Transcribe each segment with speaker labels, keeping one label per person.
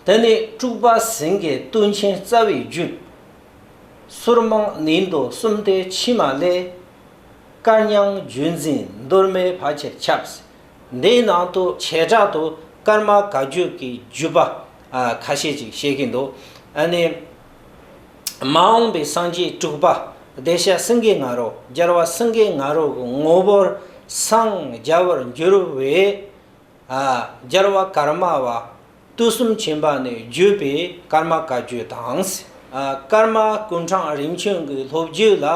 Speaker 1: དེ་ནས་དཀྲུགས་པ་ཟིང་གེ་བཏུལ་ཆེན་རྩ་བའི་རྒྱུད། ཟུར་མང་ནི་མདོ་གསུམ་སྟེ་ཕྱི་མ་ལས། བཀའ་ཉང་བརྒྱུད་འཛིན་མདོར་མའི་བར་ཆེར་ཁྱབ། འདིའི་ནང་དུ་བྱེ་བྲག་ཏུ་སྐར་མ་ག་རྒྱུད་ཀྱི་བརྒྱུད་པ་ཁ་ཤས་ཅིག་བཤད་ཀྱི་འདུག་ཨ་ནི། མ་འོངས་པའི་སངས་རྒྱས་དཀྲུགས་པ་བདེ་གཤེགས་སེང་གེ་ང་རོ་རྒྱལ་བ་སེང་གེ་ང་རོ་གྱི་ངོ་བོར་སངས་རྒྱ་བར་འགྱུར་བའི་སྦྱར་བ་ཀརྨ་བ། ཏུ་གསུམ་བྱིན་པ་ནི་བརྒྱུད་པའི་ཀརྨ་བཀའ་བརྒྱུད་དང། ཀརྨ་ཀུན་གྲངས་རིམ་བྱོན་གྱི་ལྷོ་བརྒྱུད་ལ་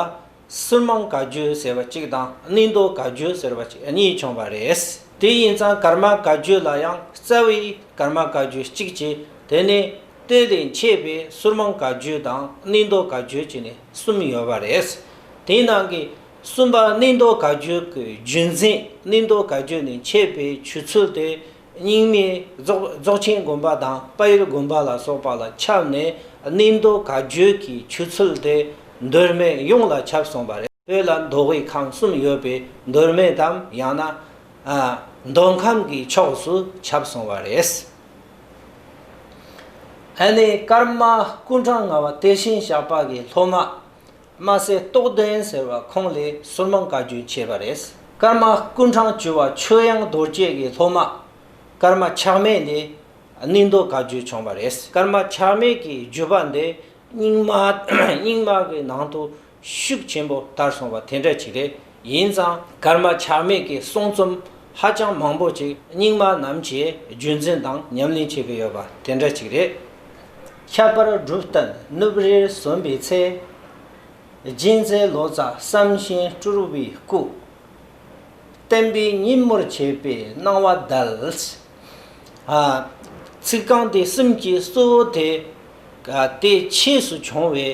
Speaker 1: སུར་མང་བཀའ་བརྒྱུད་ཟེར་བ་གཅིག་དང་གནས་མདོ་བཀའ་བརྒྱུད་ཟེར་བ་གཅིག་གཉིས་བྱུང་བ་རེད། དེ་ཡིན་ཙང་ཀརྨ་བཀའ་བརྒྱུད་ལ་ཡང་རྩ་བའི་ཀརྨ་བཀའ་བརྒྱུད་གཅིག་ཅེས་དེ་ནས་དེ་ལས་མཆེད་པའི་སུར་མང་བཀའ་བརྒྱུད་དང་གནས་མདོ་བཀའ་བརྒྱུད་ཅེས་ནས་གསུམ་ཡོད་པ་རེད། དེའི་ནང་གི། གསུམ་པ་གནས་མདོ་དགའ་སྐྱོད་ཀྱི་རྒྱུན་འཛིན་གནས་མདོ་དགའ་སྐྱོད་ནས་མཆེད་པའི་ཆུ་ཚོད་དེ་རྙིང་མའི་རྫོགས་ཆེན་དགོན་པ་དང་དཔལ་ཡུལ་དགོན་པ་ལ་སོགས་པ་ལ་ཁྱབ་ནས་གནས་མདོ་དགའ་སྐྱོད་ཀྱི་ཆུ་ཚོད་དེ་མདོ་སྨད་ཡོངས་ལ་ཁྱབ་སོང་བ་རེད། བོད་ལ་མདོ་དབུས་ཁམས་གསུམ་ཡོད་པའི་མདོ་སྨད་དམ་ཡང་ན། མདོ་ཁམས་ཀྱི་ཕྱོགས་སུ་ཁྱབ་སོང་བ་རེད། ཨ་ནེ་ཀརྨ་སྐུ་འཕྲང་ལྔ་བ་དེ་བཞིན་ཞགས་པ་ཀྱི་སློབ་མ། དམའ་སའི་རྟོགས་ལྡན་ཟེར་བ་ཁོང་ལས་སོར་མང་བཀའ་བཀྱོན་བྱས་པ་རེད། ཀརྨ་སྐུ་འཕྲང་བཅོལ་བ་ཆོས་དབྱངས་རྡོ་རྗེ་ཡི་སློབ་མ་ཀརྨ་ཆགས་མེད་ལས་གནས་མདོ་བཀའ་བརྒྱུད་བྱུང་བ་རེད། ཀརྨ་ཆགས་མེད་ཀྱི་བརྒྱུད་པ་འདི་རྙིང་མ་རྙིང་མ་གི་ནང་དུ་ཤུགས་ཆེན་པོ་དར་སོང་བ་དེ་འདྲ་ཅིག་རེད། ཡིན་ཙང་ཀར་མ་ཆགས་མེད་ཀྱི་གསུང་རྩོམ་ཧ་ཅང་མང་པོ་ཅིག་རྙིང་མ་རྣམས་ཀྱིས་རྒྱུད་འཛིན་དང་ཉམས་ལེན་བྱེད་ཀྱི་ཡོད་པ་དེ་འདྲ་ཅིག་རེད། ཁྱད་པར་སྒྲུབ་གཏན་སྣུབས་རེར་སོན་པའི་ཚེ། སྦྱིན་བསྲེག་ལོ་ཙཱ་བསམ་བཞིན་སྤྲུལ་བའི་སྐུ། བསྟན་པའི་སྙིང་མོར་བྱས་པའི་སྣང་བ་བརྡལ། ཚིག་རྐང་དེ་གསུམ་གྱི་གཙོ་བོ་དེ། དེ་ཕྱིས་སུ་བྱུང་བའི་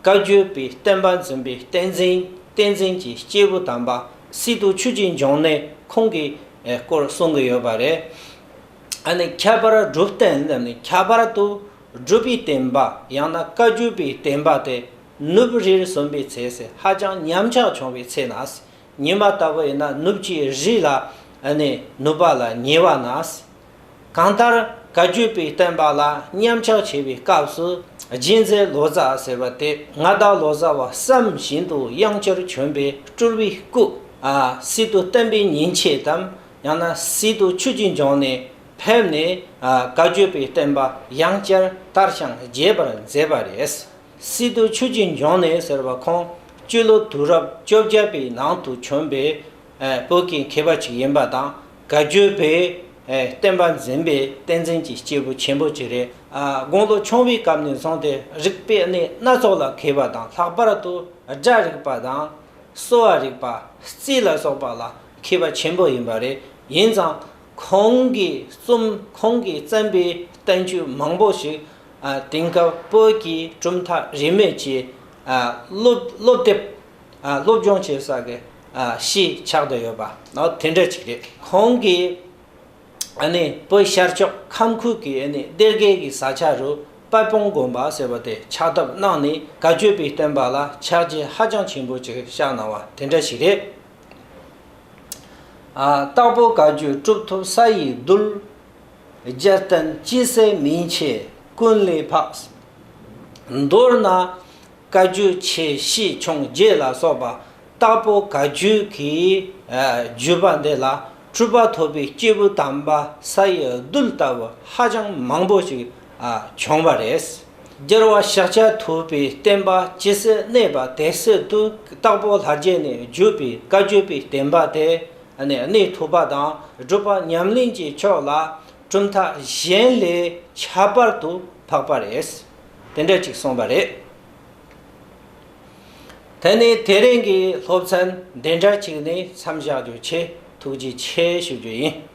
Speaker 1: བཀའ་བརྒྱུད་པའི་བསྟན་པ་འཛིན་པའི་བསྟན་འཛིན་བསྟན་འཛིན་གྱི་སྐྱེས་བུ་དམ་པ་སི་ཏུ་ཆོས་རྗེ་འབྱུང་གནས་ཁོང་གི་སྐོར་གསུང་གི་ཡོད་པ་རེད། ཨ་ནི་ཁྱད་པར་སྒྲུབ་བསྟན་འདི་ནི་ཁྱད་པར་དུ་སྒྲུབ་པའི་བསྟན་པ་ཡང་ན་བཀའ་བརྒྱུད་པའི་བསྟན་པ་དེ་ནུབ་རིར་སོན་པའི་ཚེ་ཧ་ཅང་ཉམས་ཆག་བྱུང་བའི་ཚེ་ན། ཉི་མ་ལྟ་བུ་ཡིན་ན་ནུབ་ཀྱི་རི་ལ་ནི་ནུབ་པ་ལ་ཉེ་བ་ན། གང་ལྟར་ག་བརྒྱུད་པའི་བསྟན་པ་ལ་མཉམ་གཞག་བྱེད་པའི་སྐབས་སུ་སྦྱིན་བསྲེག་ལོ་ཙཱ་ཟེར་བ་དེ་མངའ་བདག་ལོ་ཙཱ་བ་བསམ་བཞིན་དུ་དབྱངས་ཅོར་བྱོན་པའི་སྤྲུལ་བའི་སྐུ། སྲིད་དུ་བསྟན་པའི་ཉིན་བྱེད་དམ་ཡང་ན་སྲིད་དུ་ཆོས་ཀྱི་འབྱུང་ནས་ཕེབས་ནས་ག་བརྒྱུད་པའི་བསྟན་པ་དབྱངས་ཅར་ལྟར་ཞིང་རྒྱས་པར་མཛད་པ་རེད། སི་ཏུ་ཆོས་རྗེ་འབྱུང་གནས་ཟེར་བ་ཁོང་སྤྱི་ལོ་དུས་རབས་བཅོ་བརྒྱད་པའི་ནང་དུ་བྱོན་པའི་བོད་ཀྱི་མཁས་པ་ཅིག་ཡིན་པ་དང་དགའ་སྐྱོ་པའི་བསྟན་པ་འཛིན་པའི་བསྟན་འཛིན་གྱི་སྐྱེས་བུ་ཆེན་པོ་ཅིག་རེད། དགུང་ལོ་ཆུང་བའི་སྐབས་ནས་བཟུང་སྟེ་རིག་པའི་གནས་སྣ་ཚོགས་ལ་མཁས་པ་དང་ལྷག་པར་དུ་སྒྲ་རིག་པ་དང། གསོ་བ་རིག་པ། རྩིས་ལ་སོགས་པ་ལ་མཁས་པ་ཆེན་པོ་ཡིན་པ་རེད། ཡིན་ཙང། ཁོང་གིས་རྩོམ་ཁོང་གིས་བརྩམས་པའི་བསྟན་བཅོས་མང་པོ་ཞིག་དེང་སྐབས་བོད་ཀྱི་གྲུབ་མཐའ་རིས་མེད་ཀྱིས་སློབ་དེབ་སློབ་སྦྱོང་བྱེད་ས་གི་གཞིས་ཆགས་དུ་ཡོད་པ་ནི་དེ་འདྲ་ཅིག་རེད། ཁོང་གིས་བོད་ཤར་ཕྱོགས་ཁམས་ཁུལ་གྱི་གཏེར་སྒལ་གྱི་ས་ཆ་རུ་དཔལ་སྤུངས་དགོན་པ་ཟེར་བ་དེ་ཆགས་ཐབས་གནང་ནས་དགའ་སྐྱོ་པའི་བསྟན་པ་ལ་ཕྱག་རྗེས་ཧ་ཅང་ཆེན་པོ་ཅིག་བཞག་གནང་བ་དེ་འདྲ་ཞིག་རེད། སྟག་ཕོ་དགའ་སྐྱོ་གྲུབ་ཐོབ་ས་ཡི་རྡུལ། རྒྱལ་བསྟན་སྐྱི་བསེར་མིང་ཆེ་ཀུན་ལས་འཕགས། མདོར་ན། བཀའ་བརྒྱུད་ཆེ་བཞི་འཕྱོངས་རྒྱས་ལ་སོགས་པ་སྟག་ཕོ་དགའ་སྐྱོའི་གི་བརྒྱུད་པ་འདི་ལ་སྤྲུལ་པ་ཐོབ་པའི་སྐྱེས་བུ་དམ་པ་ས་ཡི་རྡུལ་ལྟ་བུ་ཧ་ཅང་མང་པོ་ཞིག་བྱུང་བ་རེད། སྦྱར་བ་ཤཱཀྱ་ཐུབ་པའི་བསྟན་པ་ཇི་སྲིད་གནས་པ་དེ་སྲིད་དུ་དྭགས་པོ་ལྷ་རྗེ་ནས་བརྒྱུད་པའི་བཀའ་བརྒྱུད་པའི་བསྟན་པ་དེ་ནི་གནས་ཐུབ་པ་དང་སྒྲུབ་པ་ཉམས་ལེན་གྱི་ཕྱོགས་ལ་གྲུབ་མཐའ་གཞན་ལས་ཁྱད་པར་དུ་འཕགས་པ་རེད། དེ་འདྲ་གཅིག་གསུངས་པ་རེད། དེ་ནས་དེ་རིང་གི་སློབ་ཚན་འདི་འདྲ་གཅིག་ནས་མཚམས་བཞག་རྒྱུ་ཆེ་ཐུགས་རྗེ་ཆེ་ཞུ་རྒྱུ་ཡིན།